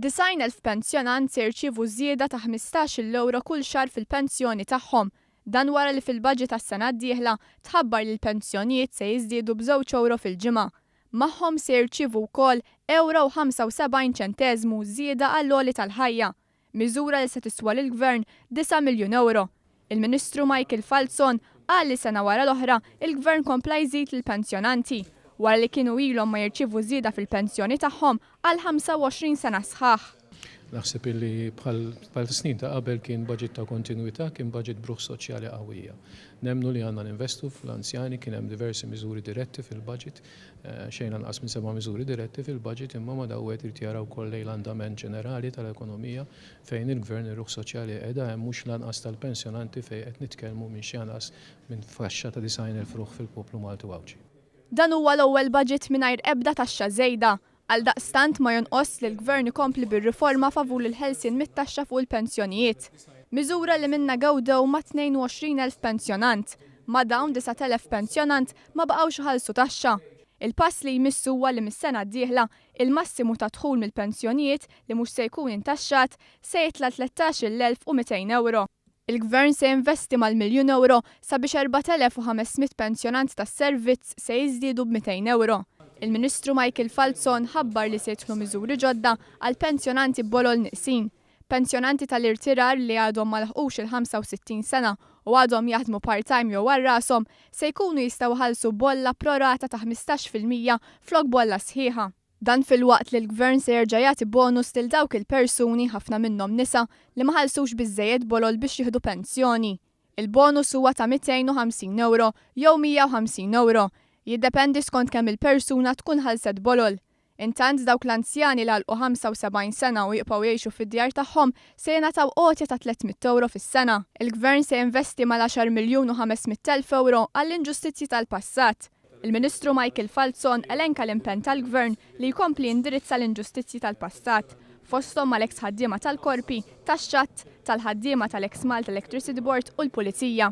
Disgħin elf pensjonant se jirċievu żieda ta' ħmistax-il ewro kull xahar fil-pensjoni tagħhom. Dan wara li fil-budget għas-sena d-dieħla tħabbar li l-pensjonijiet se jiżdiedu b'żewġ ewro fil-ġimgħa. Magħhom se jirċievu wkoll ewro u ħamsa u sebgħin ċenteżmu żieda għall-għoli tal-ħajja. Miżura li se tiswa lill-Gvern disa' miljun ewro. Il-Ministru Michael Falzon qal li sena wara l-oħra l-Gvern kompla jżid lill-pensjonanti, wara li kienu ilhom ma jirċievu żieda fil-pensjoni tagħhom għal 25 sena sħaħ. Naħseb illi bħal snin ta' qabel kien budget ta' kontinwità, kien budget b'ruħ soċjali qawwija. Nemmnu li għandna ninvestu fl-anzjani, kien hemm diversi miżuri diretti fil-budget xejn anqas minn seba' miżuri diretti fil-baġit imma ma' dawn wieħed irid jara wkoll lejn l-andament ġenerali tal-ekonomija fejn il-Gvern ir-ruħ soċjali li qiegħda hemm mhux lanqas tal-pensjonanti fejn qed nitkellmu minn xi anqas minn faxxa ta' 90,000 ruħ fil-poplu Malti u Għawdxi. Dan huwa l-ewwel baġit mingħajr ebda taxxa żejda Għaldaqstant ma jonqosx li l-Gvern ikompli bir-riforma favur il-ħelsien mit-taxxa fuq il-pensjonijiet, miżura li minnha gawdew ma' 22 elf pensjonant. Ma' dawn, 9 elef pensjonant ma baqgħux iħallsu taxxa. Il-pass li jmiss huwa li mis-sena d-dieħla, il-massimu ta' dħul mill-pensjonijiet li mhux se jkun intaxxat se jitla' 13 il-elf u 200 ewro. Il-Gvern se jinvesti mal-miljun ewro sabiex 4,500 pensjonant tas-servizz se jiżdiedu b'mitejn ewro. Il-Ministru Michael Falzon ħabbar li se jidħlu miżuri ġodda għall-pensjonanti b'għolol nieqsin. Pensjonanti tal-irtirar li għadhom ma laħqux il-65 sena u għadhom jaħdmu part-time jew għal rashom se jkunu jistgħu jħallsu bolla pro rata ta' ħmistax fil-mija flok bolla sħiħa. Dan filwaqt li l-Gvern se jerġa' jagħti bonus lil dawk il-persuni, ħafna minnhom nisa, li ma ħallsux biżżejjed bolol biex jieħdu pensjoni. Il-bonus huwa ta' 250 ewro jew 150 ewro, jiddependi skont kemm il-persuna tkun ħallset bolol. Intant dawk l-anzjani li għalqu 75 sena u jibqgħu jgħixu fid-djar tagħhom se jingħataw għotja ta' 300 ewro fis-sena. Il-Gvern se jinvesti mal-10 miljun u 500 elf ewro għall-inġustizzji tal-passat. Il-Ministru Michael Falzon elenka l-impenn tal-Gvern li jkompli jindirizza l-inġustizzji tal-passat, fosthom mal-eks ħaddiema tal-Korpi tax-Xatt, tal-ħaddiema tal-eks Malta Electricity Board u l-Pulizija.